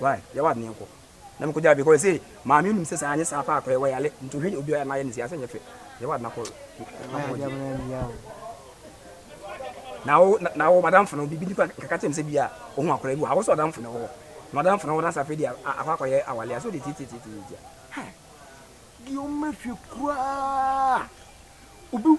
Why? Yɛ w'ade na yɛnkɔ. Na mekɔgyaa no because ɔse maame nim sɛ saa anyɛ saa paa kora yɛwɔ yare nti ɔhwɛ obi a ɔyɛ na ayɛ no saa sɛ nyɛ fɛ. Yɛ w'ade na kɔ na wo na wo madamfo no bibi nipa kaka kyɛm sɛ bi a ohun akora bi wɔ ha wosɔ adamfo no wɔ na ɔdamfo no wɔ na safe de akɔ akɔyɛ awale a so de titititi ha deɛ ɔma fie koraa obi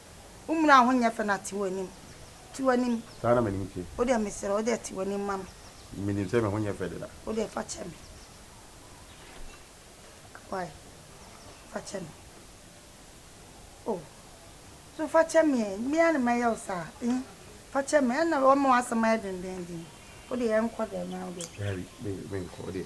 Wo mmura a ho nyɛ fɛ na te w'anim. Te w'anim. Saa na m'anim te. Wo deɛ mesrɛ wo deɛ te w'anim ma me. Menim sɛ me ho nyɛ fɛ deda. Wo deɛ fa kyɛ me. Wai fa kyɛ me. Oh so fa kyɛ me eh. Me ara na mɛyɛ wo saa eh. Fa kyɛ me. Ɛna wama w'asɛm ayɛ dendennden. Wo deɛ yɛnkɔ dɛm na wo deɛ. Daabi me menkɔ wo deɛ.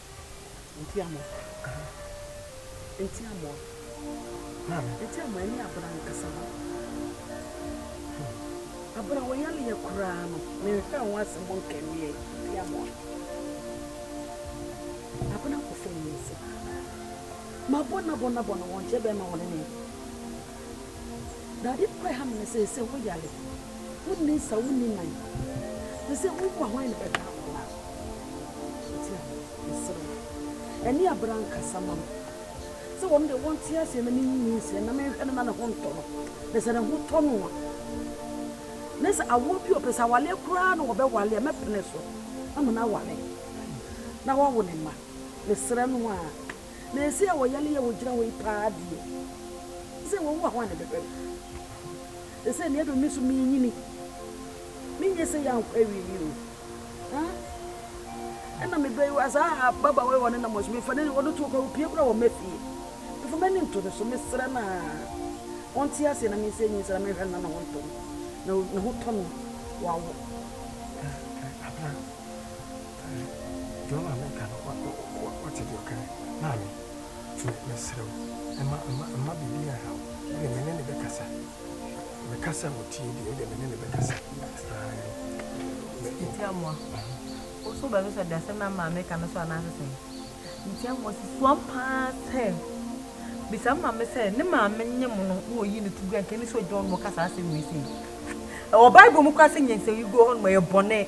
Nti amoa. Ahaa. Nti amoa. Maame. Nti amoa ɛne abena no kasa no. Hmm. Abena wɔ yale yɛ koraa no. Me nhwɛ ho asɛm mo nkɛ meɛ. Nti amoa. Abena kɔ fɛ ni nso. Ma bɔ na bɔ na bɔ no wɔn kyɛ bɛɛ ma wɔn ne ne. Dade kɔ ɛha mene sɛ sɛ wo yare wo nni nsa wo nni nan ne sɛ wo wu a hwan ne bɛda akɔla nti a mesrɛ wo ɛne abra nkasa ma me sɛ wɔn de wɔn te aseɛ na menyi nyi nseɛ na menhwɛ no na ne ho ntɔ no na sɛ ne ho tɔ no a ne sɛ awoɔ bi ɔpɛ sɛ awaleɛ koraa na wɔbɛwale a mɛpene so ama no awale na wawo ne mma mesrɛ no a Na ɛsɛ wɔ yale yɛ wɔ gyina hɔ yi paa deɛ ɛsɛ wɔ wa hɔ ane bɛhwɛ no ɛsɛ ne ɛdɔ me so me nyini me nyɛ sɛ yɛ ankɔ awie yi o ɛna me bɛyi wa saa baba wɔ wɔne na mɔso mefa ne wɔne to kɔ opie kora wɔ mafie mefa m'ani nto ne so mesrɛ no a ɔnte aseɛ na mensɛ nyi sra mehwɛ na ne ho ntɔ na ne ho tɔ no wawo Deɛ ɔma meka no woate deɛ ɔka maame nti mesrɛ wo mma biribi anha wo wodeɛ me ne no bɛkasa mekasa a ɔtie deɛ wodeɛ me ne no bɛkasa Ntiamoa wo nso wobɛbisa deɛ asɛm no a maame ka no so anaasɛ sɛn Ntiamoa si soam paa sɛ bisa maame sɛ ne maame nye mo no na ɔyi no to gu anka ne sɛ ɔgyina hɔ no ɔka saa asɛm wei sei ɛwɔ Bible mu koraa sɛ nyansawigu hɔ no ma yɛ bɔne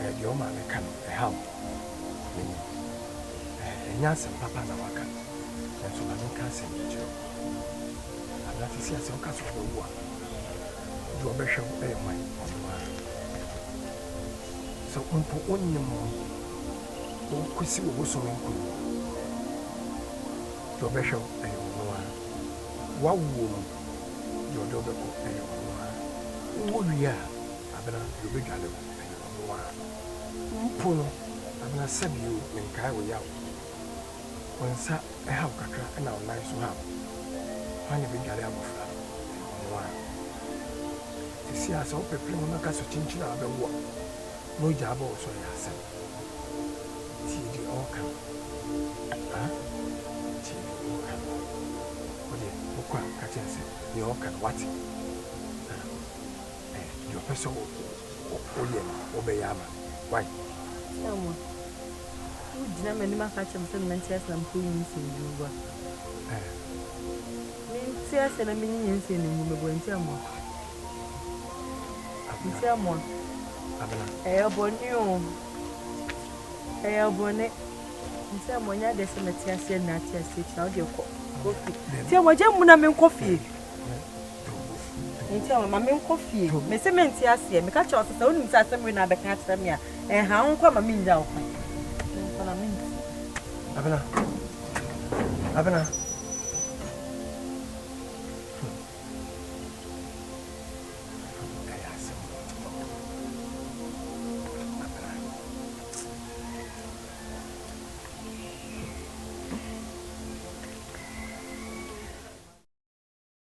eh, deɛ ɔma meka no ɛhaw m'ani. Eh, ɛnyɛ asɛm papa na waka, nanso ma menka asɛm bi nkyerɛ wo. Anaa te sɛ sɛ woka sɛ ɔbɛwo a, deɛ ɔbɛhwɛ wo ɛyɛ hwan? Ɔno ara. Sɛ mpo wonnim no, wokɔsi wo bosome nkuro mu a, deɛ ɔbɛhwɛ wo ɛyɛ ɔno ara. Woawoɔ mu, deɛ ɔde wobɛkɔ ɛyɛ ɔno ara. Wowɔ wie a, Abena, deɛ ɔbɛdwane wo, ɛyɛ ɔno ara. Mpo no, Abena, sɛdeɛ o, menkae wo yaw. Wo nsa haw kakra na wo nan nso haw. Hwan na ɛbɛdwane abɔfra no? Ɛyɛ ɔno ara. Seesei ara, sɛ wopepere wo ho ka sɛ kyinkyin a wobɛwo a, na ogya abɔ wo so a, ɛyɛ asɛm. Tie deɛ ɔreka no. Aa, tie deɛ ɔreka no. Wo deɛ, wokɔ a, ka kyerɛ no sɛ deɛ ɔreka no, woate. Aa. Eh deɛ ɔpɛ sɛ woyɛ no wobɛyɛ ama why. Samuel wogyina m'anim aka kyerɛ me sɛ mente ase na mekɔ yi nsuo no meboa. Eh. Mente ase na menyiyi nsuo no ngu meboa nti amoa. Abena. Nti amoa. Abena. Ɛyɛ bɔne o. Ɛyɛ bɔne. Nti amoa nyɛ adeɛ sɛ mɛte aseɛ na ate aseɛ kyina wodeɛ kɔ. Kɔ fie. Nti amoa gya mu na menkɔ fie. Nti ɔma ma menkɔ fie. Mese mente aseɛ. Meka kyerɛ ɔse sɛ wonim sɛ asɛm wei na abɛka akyerɛ me a, ɛnha wo nkɔ ma mennya wo kwan. Menkɔ na mente. Abena. Abena.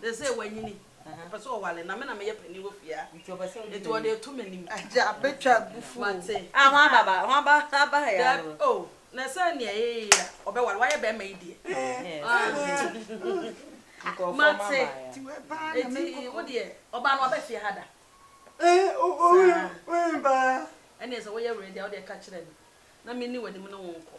Seesei wanyini, ɔpɛ sɛ ɔware, na me na meyɛ panin wɔ fie ha, enti ɔde reto m'anim. Agya bɛtwa abufuo. Mate. Ah, ho aba ba, ho aba aba ha ya no. Daabi, oh, na sɛ nea yɛyɛ a, ɔbɛware, wayɛ bɛrima yi deɛ. Nkurɔfoɔ ma ba ya. Mate. Enti wo deɛ, ɔbaa no waba fie ha da? Saa. Ɛnneɛ sɛ woyɛ ready a, wo deɛ ka kyerɛ me, na menni w'anim ne wo nkɔ.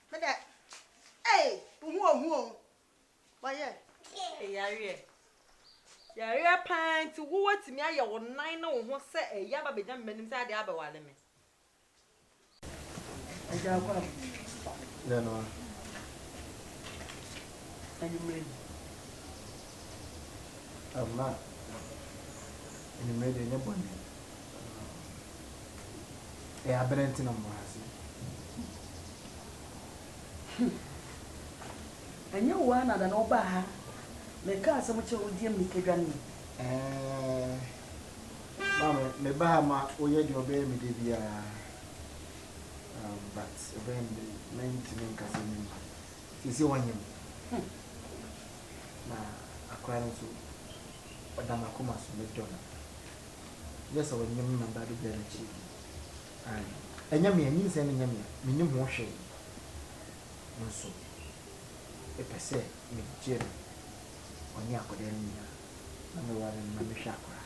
Me dɛ ei wo ho ohu o wɔyɛ. Eyareɛ yareɛ paa nti wo watumi ayɛ wo nan ne wo ho sɛ ɛyɛ aba bɛgya me m'anim sɛ adeɛ abɛwale me. Agya akɔ a Dɛ no a. Anwummerɛ yi. Ɛma anwummerɛ deɛ nyɛ bɔne. Ɛyɛ abena nti na mowɔ ha se. Hmm. Ɛnyɛ wo ara na da na wobaa ha meka asɛm kyerɛ wo deɛ mmirika dwane yi? Ɛɛɛ. Maame, meba ha ma woyɛ deɛ ɔbɛyɛ me da biara. Um, but ɛbɛyɛ me de mentumi nka sɛ memma. Sisi wɔnyɛ mu. Hmm. Na akora no nso ɔda m'akoma so medɔ no. Yɛ sɛ ɔnnyɛ me mamba do biara n'ekyir bio. Ae, nnyɛ me a, nyinsɛn no nnyɛ me a, minnyim ho hwee. Nso epɛ sɛ megye no, ɔnye akɔdaa no nyina, na mewar no na mehwɛ akora?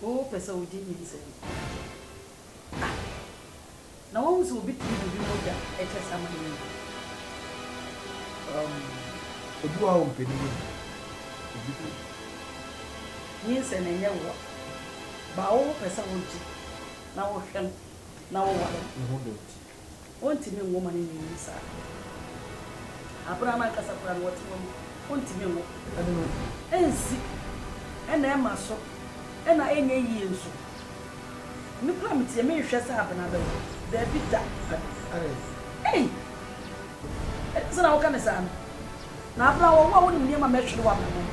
Epɛ sɛ wogye nyinsɛn no? Ae. na wahu sɛ obi tumi de obi mogya kyɛ saman mu. Um, ebi wɔ hɔ a ɔmpɛ ne yam, ebi de. Nyinsɛn no ɛnyɛ woa, baa wo ho pɛ sɛ wogye na wohwɛ no na woware no. Ne ho dɔ nti. Wontumi nwo ma no nyinyin saa. Abere a n'ankasa koraa no wɔte wɔ mu, wontumi nwo. Ɛno no. Ensi, ɛna ɛma so, ɛna ɛnyɛ yie nso. Me koraa me tiɛ menhwɛ sɛ abena bɛwo daabi da. Ei! Ɛdeɛn sɛ na woka no saa no? Na abena wɔwo a wonim nneɛma mɛhwere w'abrabɔ mu.